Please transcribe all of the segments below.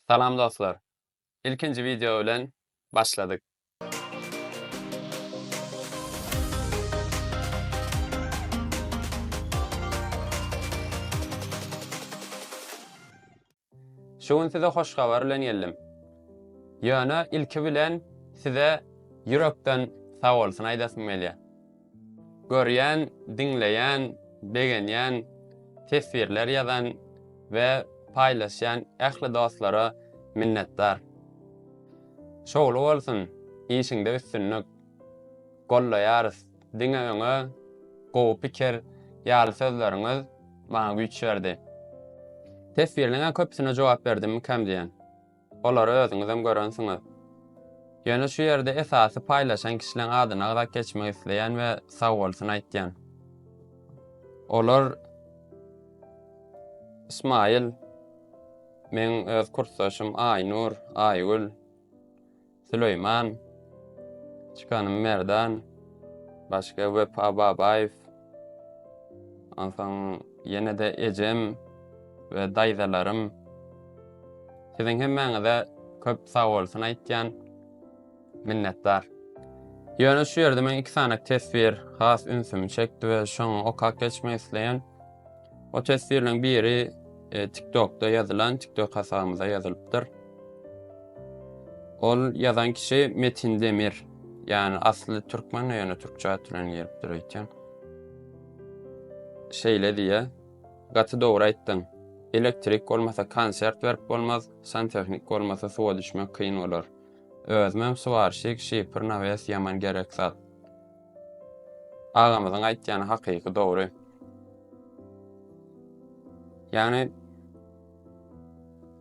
Salam dostlar. Ilkinji wideo bilen başladyk. Şu gün size hoş habar bilen geldim. Ýöne ilki bilen size ýürekden sag bolsun aýdasym gelýär. Görýän, diňleýän, begenýän, teswirler ýazan we paýlaşýan ähli dostlara minnetdar. Şowly bolsun, işiňde üstünlik. Gollaýarys, diňe öňe, gowy pikir ýaly sözleriňiz maňa güýç berdi. Teswirleriňiň köpüsine jogap berdimmikäm diýýän. Olary özüňizem görensiňiz. Ýöne şu ýerde esasy paýlaşan kişileň adyny agzap geçmek isleýän we sagbolsun aýtýan. Olar Ismaýyl, meň öz kursdaşym Aýnur, Aýgül, Süleýman, Çykanym Merdan, başga Wepa Babaýew, onsoň ýene-de ejem we daýzalarym. Siziň hemmäňize köp sag bolsun aýtýan. Minnetdar. Ýöne şu ýerde men iki sany teswir has ünsümi çekdi we şoňy okap geçmek isleýän. O teswirleriň biri e, TikTokda ýazylan TikTok hasabymyza ýazylypdyr. Ol ýazan kişi Metin Demir. Ýani asly türkmen ýöne türkçe at bilen gelipdir öýtýän. Şeýle diýe. Gaty dogry aýtdyň. Elektrik bolmasa konsert berip bolmaz, santehnik bolmasa suwa düşmek kyn bolar. Özümem suwarşik, şipr, nawes ýaman gerek zat. Agamyzyň aýtýany hakyky dogry. Ýagny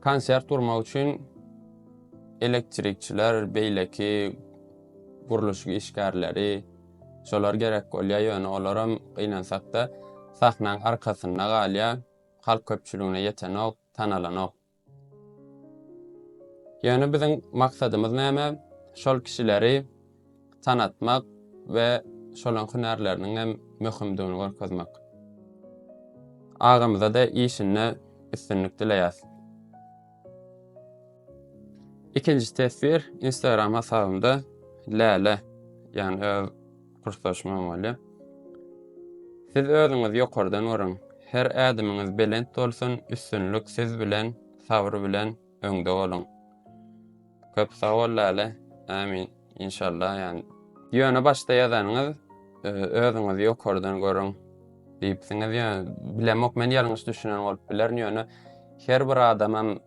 konsert gurmak üçin elektrikçiler, beýleki gurluşyk işgärleri şolar gerek bolýar, ýöne olaram gynansakda sahnaň arkasynda galýar, halk köpçüligine ýetenok, tanalanok. Ýöne biziň maksadymyz näme? Şol kişileri tanatmak we şolaň hünärleriniň hem möhümdigini görkezmek. Agamyza-da işinde üstünlik dileýäs. Ikinji teswir Instagram hasabymda Läle, ýagny öz Purslaşmaň bolýar. Siz özüňiz ýokardan görüň. Her ädimiňiz belent bolsun, üstünlik siz bilen, sabr bilen öňde boluň. Köp sag bol Läle. Amin. İnşallah yani. Ýöne başda ýazanyňyz e, özüňizi ýokardan görüň diýipsiňiz. Ýöne bilemok men ýalňyş düşünen bolup bilerin ýöne her bir adamam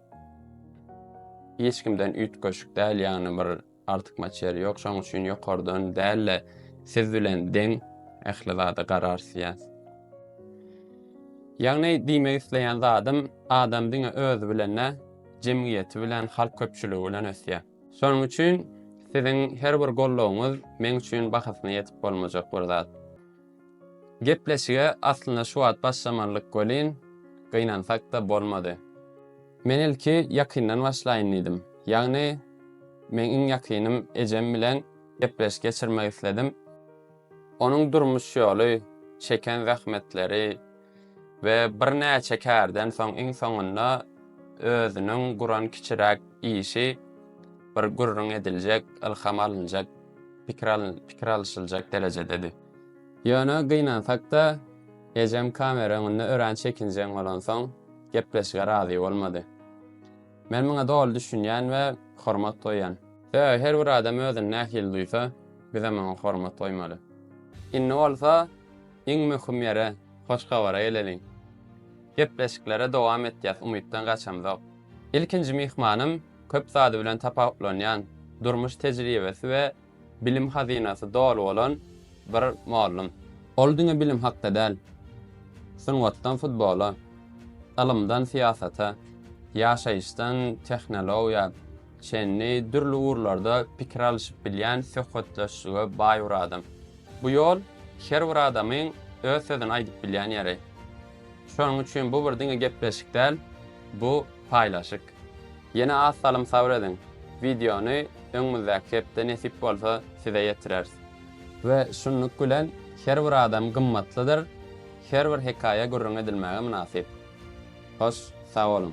hiç kimden üýtgeşik däl ýagny bir artykmaç ýeri ýok. Şonuň üçin ýokardan däl-de siz bilen deň ähli zada garar isleýäs. Ýagny diýmek isleýän zadym, adam diňe özi bilen dä, jemgyýeti bilen, halk köpçüligi bilen ösýär. Şonuň üçin siziň her bir goldawyňyz meň üçin bahasyna ýetip bolmajak bir zat. Gepleşige aslynda şu wagt başlamalydyk welin, gynansak-da bolmady. Men ilki ýakyndan başlaýyn diýdim. Ýagny, meň iň ýakynym ejem bilen gepleşik geçirmek isledim. Onuň durmuş ýoly, çeken zähmetleri, we birnäçe kärden soň iň soňunda özüniň guran kiçiräk işi bir gürrüň ediljek, ylham alynjak, pikir alyşyljak derejededi. Ýöne gynansak-da, ejem kamera öňünde örän çekinjeň bolansoň, gepleşige razy bolmady. Men muňa doly düşünýän we hormat goýýan. Sebäbi her bir adam özüni nähili duýsa, bizem oňa hormat goýmaly. Indi bolsa, Iň möhüm ýere, hoş habara geleliň. Gepleşiklere dowam etýäs, umytdan gaçamzok. Ilkinji myhmanym köp zady bilen tapawutlanýan, durmuş tejribesi we bilim hazynasy doly bolan bir mollum. Ol diňe bilim hakda däl, sungatdan futbola, ylymdan syýasata, ýaşaýyşdan tehnologiýa çenli dürli ugurlarda pikir alyşyp bilýän söhbetdeşlige baý bir adam. Bu ýol her bir adamyň öz sözüni aýdyp bilýän ýeri. Şonuň üçin bu bir diňe gepleşik däl, bu paýlaşyk. Ýene az salym sabr ediň, wideony öňümizdäki hepde nesip bolsa size ýetireris. We şunluk bilen her bir adam gymmatlydyr, her bir hekaýa gürrüň edilmäge mynasyp. Hoş sag boluň.